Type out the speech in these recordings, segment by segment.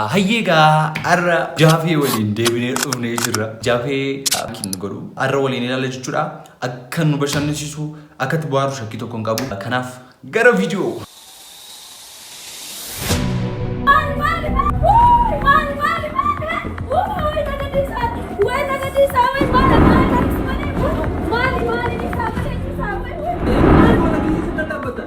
Hayyee gaa har'a jaafee waliin deebinee dhufnee jirra. Jaafee kin godhu har'a waliin ilaalla jechuudha. Akka nu bashannansiisu akka itti bohaaru shakkii tokko hin qabu. Kanaaf gara viidiyoo.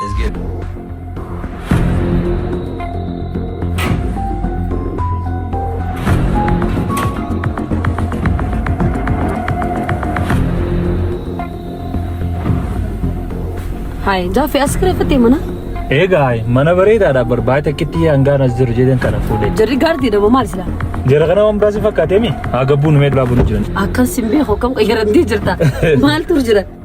Let's get Hai, Jafi askira fete mana? Egaa mana bareedaadha barbaade takkitti hangaan as jiru jedhan kana fuudhe. Jarri gaardii dha maal sila? Jara kana waan biraas hin fakkaatemi? Haa gabbuu numee duraa bulu jiran. Akkan sin beeku akkam qayyaramtee jirta? Maal tur jira?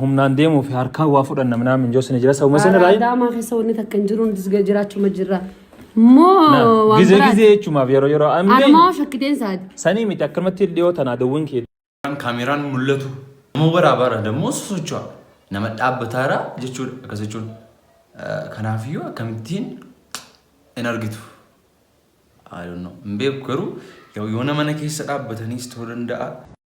humnaan deemuu fi harkaan waa fudhanna minaan minjoo sini jira sabuma sini raayi. Adaamaa keessa wanni takka hin jiru nutis jiraachuma jirra. Moo waan Gizee biraati. gizee jechuumaaf yeroo yeroo Anuma ambii hoo shakkideen saati. sanii miti akkanumatti dhiyoo tanaa dawwiin kee. kaameraan mul'atu nama waraabaarra dammoo sosocho'a nama dhaabbataarra jechuudha akkas jechuun Eh, kanaafiyyuu akkamittiin hin argitu I don't know. hin beeku garuu yoo yoo nama na keessa dhaabbataniis ta'uu danda'a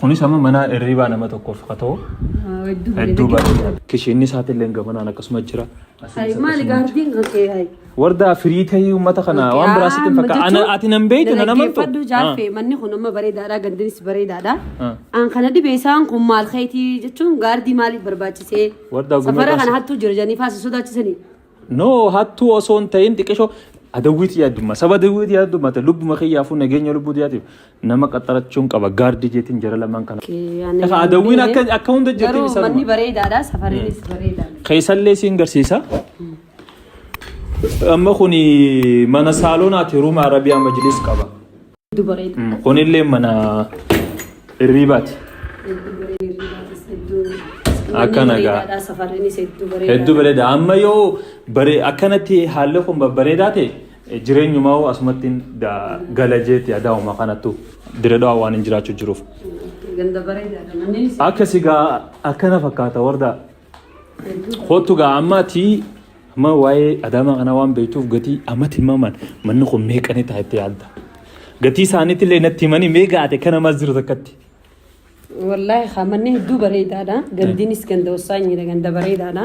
Kunis amma mana hirriibaa nama tokkoof haa ta'u hedduu bareeda. Kishinni isaati illee gamanaan akkasuma jira. Maali gaardiin kan kee hayi. Wardaa firii ta'ee uummata kana waan biraa sitti hin fakkaatu. Ana ati nan beektu nan amantu. Dhaggeeffadhu jaalfe manni kun amma bareedaadha gandinis bareedaadha. Ah. Aan kana dhibee isaan kun maal keetii jechuun gaardii maaliif barbaachisee Wardaa gumee safara kana baasi. hattuu jira jedhanii faasii sodaachisanii. No hattuu osoo hin ta'in xiqishoo adawwiitii yaaddummaa saba adawwiitii yaaddummaa ta'e lubbuma kiyyaafuu nageenya lubbuu tiyaatiif nama qaxxarachuun qaba gaardii jeetiin jara lamaan kana. Efa adawwiin akka akka hunda jirti Garuu manni isaan bareedaadha safariinis bareedaadha. keessallee siin garsiisa. Amma kun mana saaloonaati ruuma arabiyaa majliis qaba. Hedduu bareeda. Mm, Kunillee mana hirriibaati. Hedduu bareeda hirribaatis hedduu. Akka nagaa. Bareedaadha safarriinis hedduu bareeda. Hedduu bareeda. Amma yoo bare akkanatti haalli kun babbareedaa ta'e eh, jireenyumaa hoo asumatti da- gala jeetti adaa'uma kanattu diradhaa waan hin jiraachuu jiruuf. Ganda bareedaadha manneenis. Akka sigaa akkana fakkaata warda Kootu gaa ammaati amma waa'ee adaamaa kanaa waan beektuuf gatii ammatti himaman manni kun meeqanii ta'a itti yaadda. Gatii isaaniitti illee natti himanii mee gaate kana maas jiru takkatti. Wallaahi haa manni hedduu bareedaadha. Gandiinis ganda wasaanyiidha ganda bareedaadha.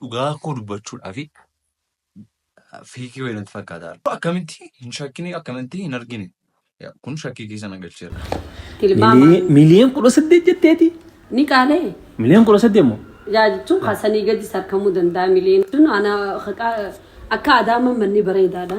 dhugaa koo dubbachuudhaaf fiikii wayii natti fakkaata. Akkamitti hin shakkine akkamitti hin argine kun shakkii keessa na galcheera. Tilmaama Miliyoon kudha saddeet jetteeti. ni qaalee Miliyoon kudha saddeet moo? yaa jechuun kaasanii gadis argamuu danda'a mileen. Jechuun ana haqaa- akka adaama manni bareedaadha.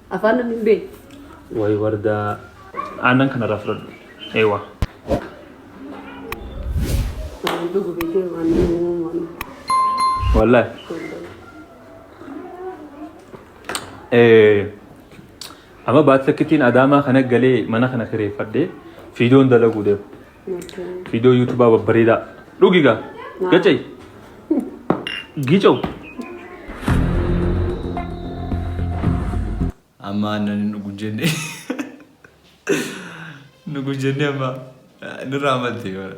Afaan namni hin beekne. Way wardaa aannan kanarraa fudhadhu. Eewa. Waan dhugu beekee waan dhugu waan dhugu. Wallahi. Eh, Amma baatti akkittiin adaamaa kana galee mana kana kireeffadhee fiidoon dalaguu deema. Viidiyoo yuutubaa babbareedaa. Dhugi gaa. Gacay. Gicow. Amma aannan hin dhugu jenne. Dhugu jenne amma nurraa malte bara.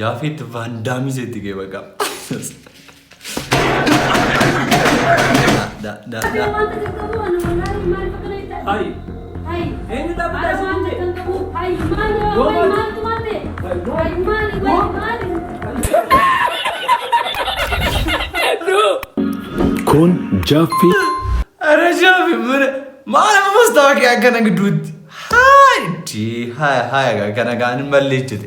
Jaafeet vaandaamii seetti kee baqa. Da da da. Hayi. Eenyu dhaabbataa si jette? Kun jaaffii Ara jaafi mure maal ammas ta'a kee akkana gidduutti. Hayi dii haya haya kana kaan hin balleechite.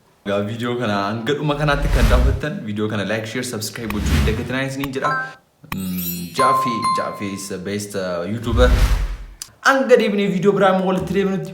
Egaa viidiyoo kana hanga dhuma kanaatti kan daawwattan viidiyoo kana like share subscribe gochuu hin dagatinaa isiniin jedha. Jaaffee Jaaffee is the best uh, YouTuber. Hanga deebinee viidiyoo biraa immoo walitti deebinutti